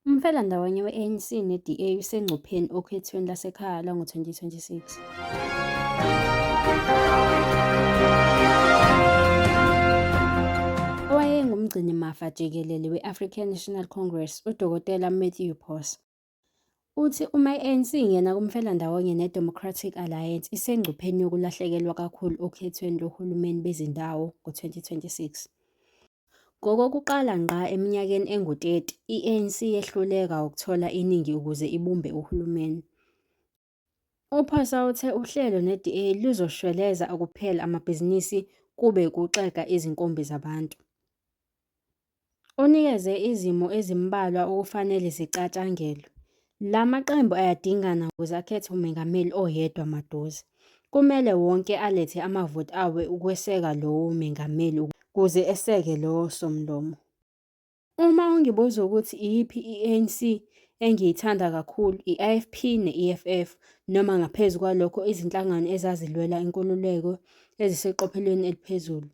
Umfelandawonye we-ANC ne-DA usengcupheni okhethweni lasekhaya lwango-2026. Owayengumgcinimafa jikelele we-African National Congress, uDokotela Matthew Pos, Uthi uma i-ANC ingena kumfelandawonye neDemocratic Alliance isengcupheni yokulahlekelwa kakhulu okhethweni lohulumeni bezindawo ngo-2026. Ngokokuqala ngqa eminyakeni engu-30, i-ANC yehluleka ukuthola iningi ukuze ibumbe uhulumeni. UPhosa uthe uhlelo ne-DA luzoshweleza ukuphela amabhizinisi kube kuxega izinkumbi zabantu. Unikeze izimo ezimbalwa okufanele zicatshangelwe. La maqembu ayadingana ukuze akhethe umengameli oyedwa maduze. Kumele wonke alethe amavoti awo ukweseka lowo mengameli ukuze eseke lowo somlomo. Uma ungibuza ukuthi iyiphi i-ANC engiyithanda kakhulu, i-IFP ne-EFF, noma ngaphezu kwalokho izinhlangano ezazilwela inkululeko eziseqophelweni eliphezulu.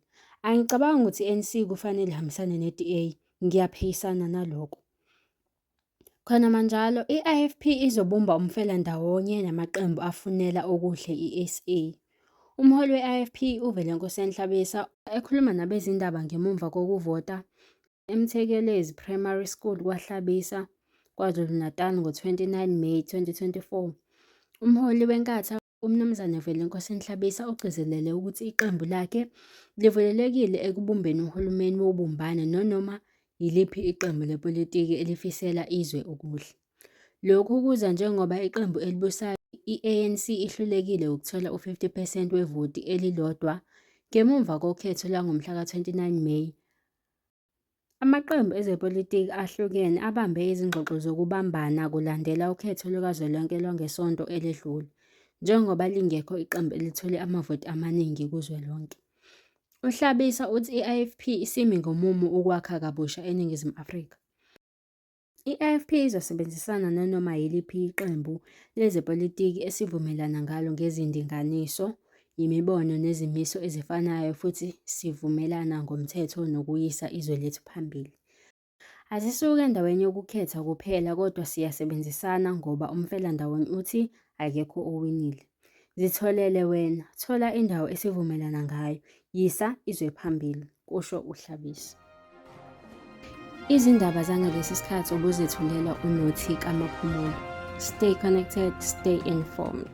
Angicabangi ukuthi i-ANC kufanele ihambisane ne-DA, ngiyaphikisana naloko. Khonamanjalo, i-IFP izobumba umfelandawonye namaqembu afunela okuhle iSA. Umholi we-IFP uVelenkosi Enhlabisa ekhuluma nabezindaba ngemuva kokuvota eMthekelezi Primary School kwaHlabisa, KwaZulu-Natal ngo-29 May 2024. Umholi weNkatha UMnumzane Vulelenkosi Nhlabisa ugcizelele ukuthi iqembu lakhe livulelekile ekubumbeni uhulumeni wobumbano nonoma yiliphi iqembu lepolitiki elifisela izwe okuhle. Lokhu kuza njengoba iqembu elibusayo i-ANC ihlulekile ukuthola u-50 percent wevoti elilodwa ngemuva kokhetho langomhlaka 29 Meyi Amaqembu ezepolitiki ahlukene abambe izingxoxo zokubambana kulandela ukhetho lukazwelonke lwangesonto eledlule, njengoba lingekho iqembu elithole amavoti amaningi kuzwelonke. UHlabisa uthi i-IFP isimi ngomumo ukwakha kabusha eNingizimu Afrika. I-IFP izosebenzisana nanoma yiliphi iqembu lezepolitiki esivumelana ngalo ngezindinganiso, yimibono nezimiso ezifanayo futhi sivumelana ngomthetho nokuyisa izwe lethu phambili. Asisuki endaweni yokukhetha kuphela kodwa siyasebenzisana ngoba umfelandawonye uthi akekho owinile. Zitholele wena, thola indawo esivumelana ngayo, yisa izwe phambili, kusho uHlabisa. Izindaba zangalesi sikhathi obuzethulelwa uNothi Kamaphumulo. Stay connected, stay informed.